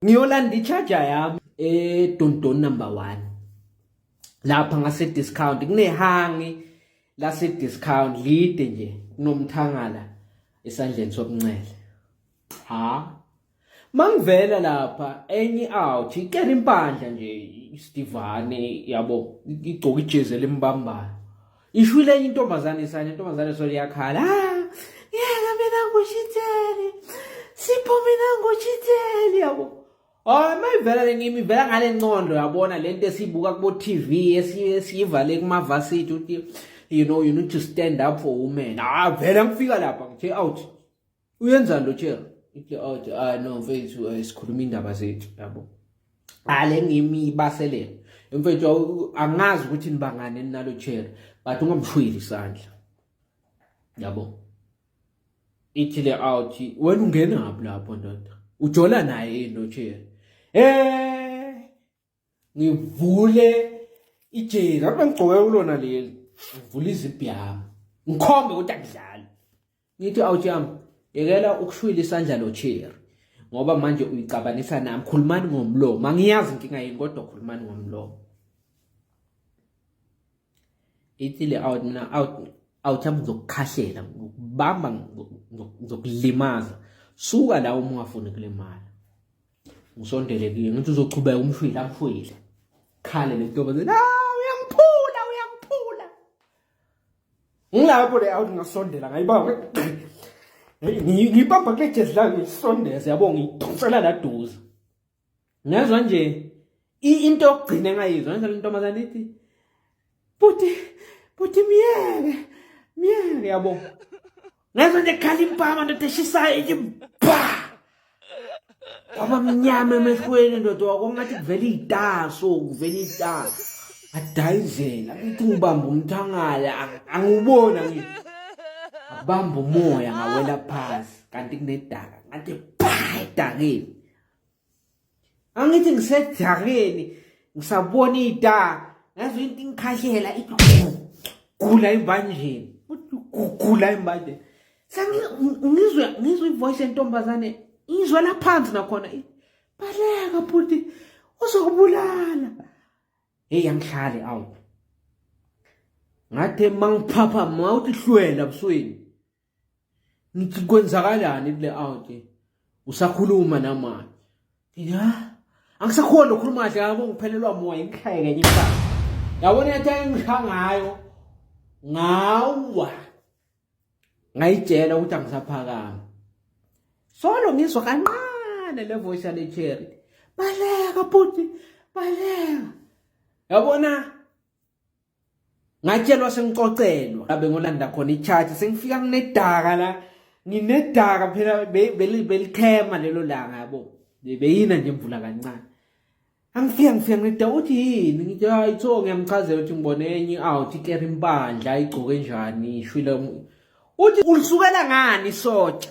ngiyolanda i-charger yami edondon eh, number 1 lapha ngase discount kunehangi lase discount lide nje kunomthangala esandleni sokunxele ha mangivela lapha enye out ikere impandla nje istivane yabo igcoka ijezi elimbambayo ishwile enye intombazane isane intombazane solo iyakhala ah, yeka mina ngushitheli sipho mina ngushitheli yabo Oh mayivela lengimi ivela ngale ncondo yabona lento esibuka kubo TV esiyivale kuma varsity uthi you know you need to stand up for women ah vele ngifika lapha ngithe out uyenzani lo chair ithi oh ah no mfethu eh, sikhuluma indaba zethu yabo ale ngimi ibaselela mfethu angazi ukuthi nibangane nalo chair but ungamshwili isandla yabo ithi le out wena ungena ngaphi lapho ndoda ujola naye no chair eh ngivule ijezi ngabe ngigcoke kulona leli ngivule izibhi yami ngikhombe ukuthi akudlali ngithi awujam yekela ukushwila isandla lo chair ngoba manje uyicabanisa nami khulumani ngomlomo angiyazi inkinga yini kodwa khulumani ngomlomo ithile out mina out out yami ngizokukhahlela ngokubamba ngizokulimaza suka la uma ungafuni kule mali ngisondele kuye ngithi uzochubeka umshwile akushwile khale le ntombazane ah uyangiphula uyangiphula ngilapho le out ngasondela ngayibamba ngiyibamba kule jezi lami ngisondeze yabo ngiyidonsela laduze ngezwa nje into yokugcina engayizwa ngizwa lentombazane ithi buti buti myeke myeke yabo ngezwa nje khala impama ndoda eshisayo ithi ba kwaba mnyama emehlweni ndoda wakongathi kuvela iy'taso kuvela iy'taso adayizela ithi ngibamba umthangala angiwubona ngi abamba umoya ngawela phasi kanti kunedaka ngathi pha edakeni angithi ngisedakeni ngisabona ida ngazo into ingikhahlela igula imbanjeni gula imbanjeni sengizwe ngizwe ivoice yentombazane izwe laphansi nakhona baleka bhuti uzokubulala hey angihlali awu ngathi mangiphapha mawuthi hlwela busweni ngithi kwenzakalani kule aunt usakhuluma namanje ya angisakhona ukukhuluma kahle yabo ngiphelelwa moya ngihlaye kenye imfana yabona yathi ayingisha ngayo ngawa ngayitshela ukuthi angisaphakami solo ngizwa kanqane le voice yale cherry baleka bhuti baleka yabona ngatshelwa sengicocelwa abe ngolanda khona icharge sengifika kunedaka la nginedaka phela belithema lelo langa yabo beyina nje mvula kancane angifika ngifika ngida uthi yini ngithi hayi tho ngiyamchazela ukuthi ngibone enye out ikera impandla igcoke njani ishwile uthi ulisukela ngani sotsha